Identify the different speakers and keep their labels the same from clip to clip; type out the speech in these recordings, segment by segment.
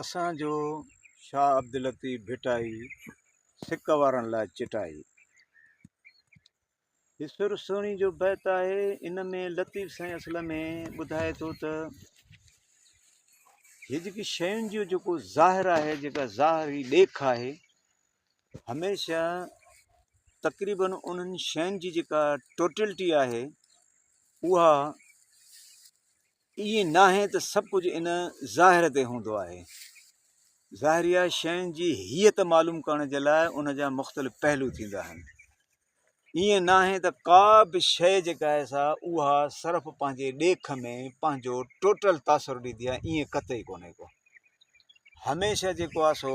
Speaker 1: اسان جو شاهه عبداللطيف ڀٽائي سڪ وارن لاء چٽائي. هي سر سهڻي جو بيت آهي ان ۾ لطيف سائين اصل ۾ ٻڌائي ٿو ته هي جيڪي شين جو جيڪو ظاهر آهي جيڪا ظاهري ڏيک آهي هميشه تقريبن انهن شين جي جيڪا ٽوٽلٽي آهي اها ائين ناهي ته سڀ ڪجهه ان ظاهر تي هوندو آهي. ظاهريا شين جي هيئت معلوم ڪرڻ جي لاء ان جا مختلف پهلو ٿيندا آهن. ائين ناهي ته ڪا به شيء جيڪا آهي سا اها صرف پنهنجي ڏيک ۾ پنهنجو ٽوٽل تاثر ڏيندي آهي ائين قطعي ڪونهي ڪو. هميشه جيڪو آهي سو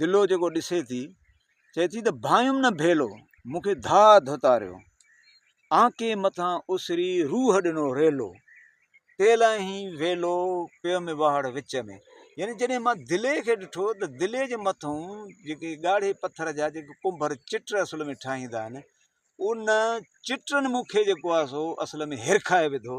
Speaker 1: دلو جيڪو ڏسي ٿي، چئي ٿي ته ڀانئيم نه ڀيلو، مون کي ڌاء ڌتاريو، آنڪي مٿان اسري روح ڏنو ريلو، تيلان هي ويلو پيم واهڙ وچ ۾. يعني جڏهن مان دلي کي ڏٺو ته دلي جي مٿئون جيڪي ڳاڙهي پٿر جا جيڪي ڪنڀر چٽ اصل ۾ ٺاهيندا آهن، ان چٽن مون کي جيڪو آهي سو اصل ۾ هرکائي وڌو.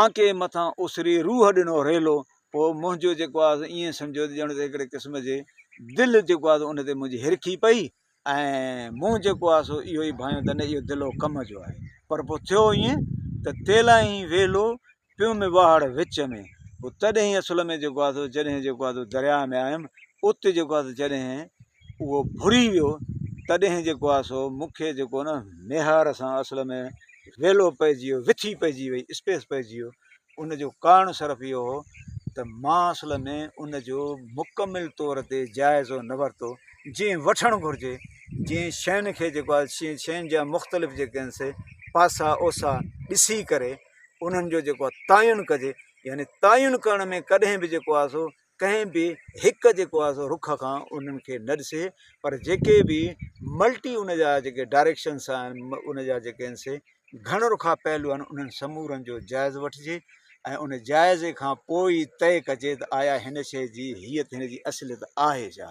Speaker 1: آنڪي مٿان اسري روح ڏنو ريلو پوء منهنجو جيڪو آهي ائين سمجهو ته ڄڻ ته هڪڙي قسم جي دل جيڪو آهي ان تي منهنجي هرکي پئي ۽ مون جيڪو آهي سو اهو ئي ڀانيو ته نه اهو دلو ڪم جو آهي پر پوء ٿيو ائين ته تيلائي ويلو پيو ۾ واهڙ وچ ۾ پوء تڏهن اصل ۾ جيڪو آهي سو جڏهن جيڪو آهي سو درياء ۾ آيم ات جيڪو آهي سو جڏهن اهو ڀري ويو تڏهن جيڪو آهي سو مون کي جيڪو نه ميهار سان اصل ۾ ويلو پئجي ويو وٿي پئجي وئي اسپيس پئجي ويو ان جو ڪارڻ صرف اهو هو ته مان اصل ۾ ان جو مڪمل طور تي جائزو نه ورتو جي وٺڻ گهرجي جي شين کي جيڪو آهي سي شين جا مختلف جيڪي آهن سي پاسا اوسا ڏسي ڪري انهن جو جيڪو تعين ڪجي يعني تعين ڪرڻ ۾ ڪڏهن بي جيڪو آهي سو ڪنهن به هڪ جيڪو آهي سو رخ کان انهن کي نه ڏسي پر جيڪي به ملٽي ان جا جيڪي ڊائريڪشنس آهن ان جا جيڪي آهن سي گهڻ رخا پهلو آهن انهن سمورن جو جائز وٺجي ۽ ان جائزي کان پوء ئي طئي ڪجي ته آيا هن شيء جي هيئت هن جي اصليت آهي ڇا